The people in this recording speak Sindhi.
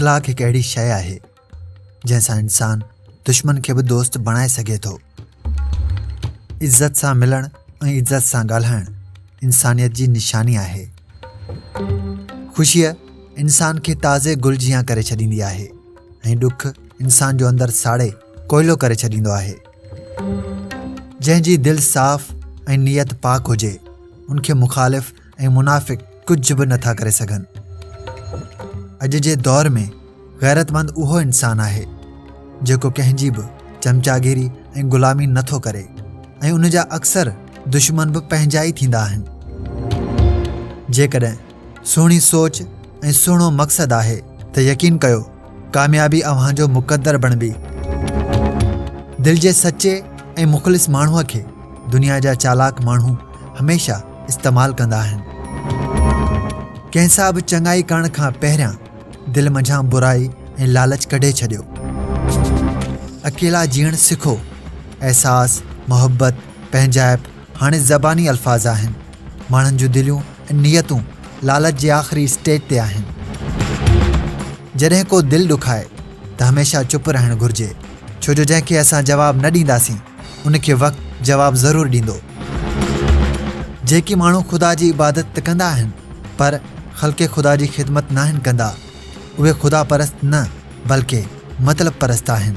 اخلاق هڪ اهڙي شيء آهي جنهن سان انسان دشمن کي به دوست بڻائي سگهي ٿو عزت سان ملڻ ۽ عزت سان ڳالهائڻ انسانيت جي نشاني آهي خوشيء انسان کي تازي گل جيان ڪري ڇڏيندي آهي ۽ ڏک انسان جو اندر ساڙي ڪوئلو ڪري ڇڏيندو آهي جنهن جي دل صاف ۽ نيت پاڪ هجي ان کي مخالف ۽ منافق ڪجهه به نٿا ڪري سگهن اڄ جي دور ۾ غيرتمند اهو انسان آهي جيڪو ڪنهن جي به چمچاگيري ۽ غلامي نٿو ڪري ۽ ان جا اڪثر دشمن به پنهنجا ئي ٿيندا آهن جيڪڏهن سهڻي سوچ ۽ سهڻو مقصد آهي ته يقين ڪيو ڪاميابي اوهان جو مقدر بڻبي دل جي سچي ۽ مخلص ماڻهوء کي دنيا جا چالاڪ ماڻهو هميشه استعمال ڪندا آهن ڪنهن سا به چڱائي ڪرڻ کان پهريان دل منجهان برائي ۽ لالچ ڪڍي ڇڏيو اڪيلا جيئڻ سکو احساس محبت پنهنجائپ هاڻي زباني الفاظ آهن ماڻهن جون دليون ۽ نيتون لالچ جي آخري اسٽيج تي آهن جڏهن ڪو دل ڏکائي ته هميشه چپ رهڻ گهرجي ڇو جو جنهن کي اسان جواب نه ڏينداسين ان کي وقت جواب ضرور ڏيندو جيڪي ماڻهو خدا جي عبادت ته ڪندا آهن پر خلق خدا جي خدمت ناهن ڪندا اهي خدا پرست نه بلڪ مطلب پرست آهن